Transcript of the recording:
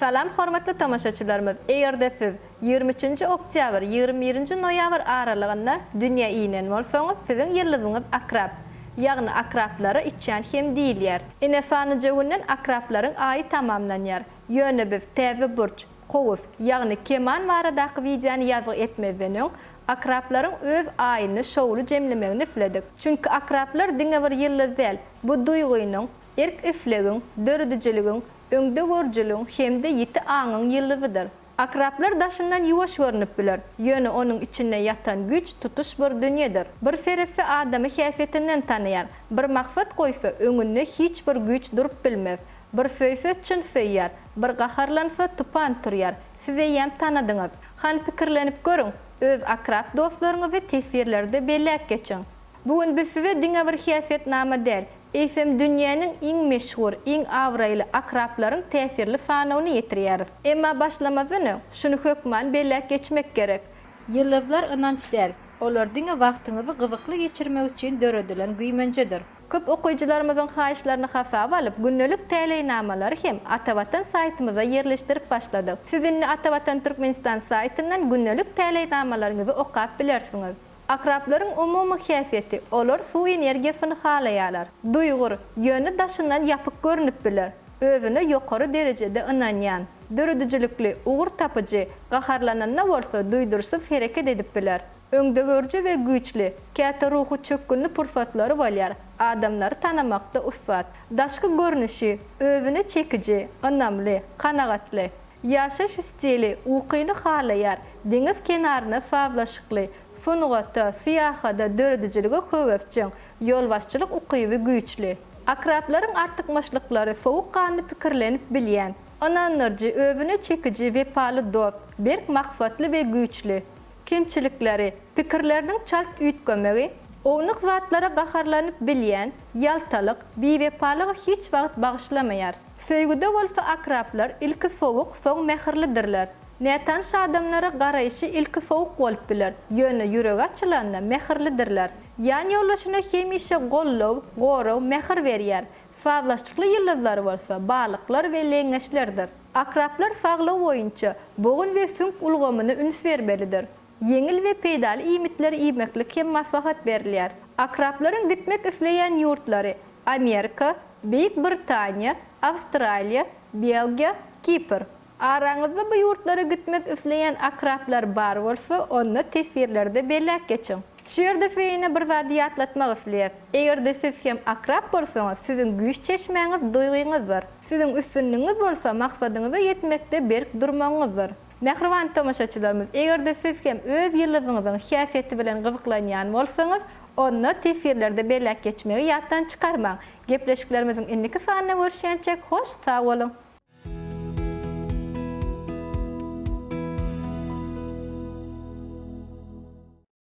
Salam hormatly tomaşaçylarymyz egerde siz ýigrimi üçünji oktýabr ýigrimi birinji noýabr aralygynda dünýä inen bolsaňyz siziň ýyldyzyňyz akrap ýagny akraplara içýan hem diýilýär ine sanyja günden akraplaryň aýy tamamlanýar ýöne biz täze burç kowus ýagny keman baradaky wideony ýazgy etmezden öň akraplaryň öz aýyny şowly jemlemegini isledik çünki akraplar diňe bir ýyldyz däl bu duýgynyň erk-islegiň, döredijiligiň, öňdegörüjiligiň hem-de ýiti aňyň ýyldyzydyr. Akraplar daşyndan ýuwaş görnüp biler, ýöne onuň içinde ýatan güýç tutuş bir dünýedir. Bir seretse adamy häsiýetinden tanaýar, bir maksat goýsa, öňünde hiç bir güýç durup bilmez. Bir söýse, çyn söýýär, bir gaharlansa, tupan turýar. Siz eýýäm tanadyňyz. Hany pikirlenip görüň, öz akrap dostlaryňyzy teswirlerde belläp geçiň. Bu gün biz size diňe bir häsiýetnama däl, eýsem dünýäniň iň meşhur, iň abraýly akraplaryň täsirli sanawyny ýetirýäris. Emma başlamazdan öň, şuny hökman belläp geçmek gerek. Ýyldyzlar ynanç däl, olar diňe wagtyňyzy gyzykly geçirmek üçin döredilen güýmenjedir. Köp okyjylarymyzyň haýyşlaryny hasaba alyp, gündelik täleýnamalary hem Atavatan saýtymyza ýerleşdirip başladyk. Siz indi Atavatan Türkmenistan saýtyndan gündelik täleýnamalaryňyzy okap bilersiňiz. Akraplaryň umumy häsiýeti, olar suw energiýasyny halaýarlar. Duýgur, ýöne daşyndan ýapyk görnüp biler. Özüne ýokary derejede ynanýan, döredijilikli, ugur tapyjy, gaharlananda bolsa duýduryşsyz hereket edip biler. Öňdegörüji we güýçli, käte ruhy çökgünli pursatlary bolýar, adamlary tanamakda ussat. Daşky görnüşi, özüne çekiji, ynamly, kanagatly. Ýaşaýyş stili ukyny halaýar, deňiz kenaryna sazlaşykly, sungata, syýahada, döredijilige höwesjeň, ýolbaşçylyk ukyby güýçli. Akraplaryň artykmaçlyklary sowukganly pikirlenip bilýän, ynandyryjy, özüne çekiji, wepaly dost, berk maksatly we güýçli. Kemçilikleri, pikirleriniň çalt üýtgemegi, ownuk zatlara gaharlanyp bilýän, ýaltalyk, biwepalygy hiç wagt bagyşlamaýar. Söýgüde bolsa akraplar ilki sowuk, soň mähirlidirler. Nätanyş adamlara garaýşy ilki sowuk bolup biler, ýöne ýüregi açylanda mähirlidirler. Ýanýoldaşyna hemişe goldaw, goraw, mähir berýär. Sazlaşykly ýyldyzlary bolsa Balyklar we Leňňeçlerdir. Akraplar saglygy boýunça bogun we süňk ulgamyna üns bermelidir. Ýeňil we peýdaly iýmitleri iýmeklik hem maslahat berilýär. Akraplaryň gitmek isleýän ýurtlary, Amerika, Beýik Britaniýa, Awstraliýa, Belgiýa, Kipr. Araňyzda bu ýurtlara gitmek isleýän akraplar bar bolsa, onda teswirlerde belläp geçiň. Şu ýerde size ýene bir zady ýatlatmak isleýäs. Eger-de siz hem akrap bolsaňyz, siziň güýç çeşmäňiz duýgyňyzdyr. Siziň üstünligiňiz bolsa maksadyňyza ýetmekde berk durmagyňyzdyr. Mähriban tomaşaçylarymyz, eger-de siz hem öz ýyldyzyňyzyň häsiýeti bilen gyzyklanýan bolsaňyz, onda teswirlerde belläp geçmegi ýatdan çykarmaň. Gepleşiklerimiziň indiki sanynda görüşýänçäk, hoş sag boluň!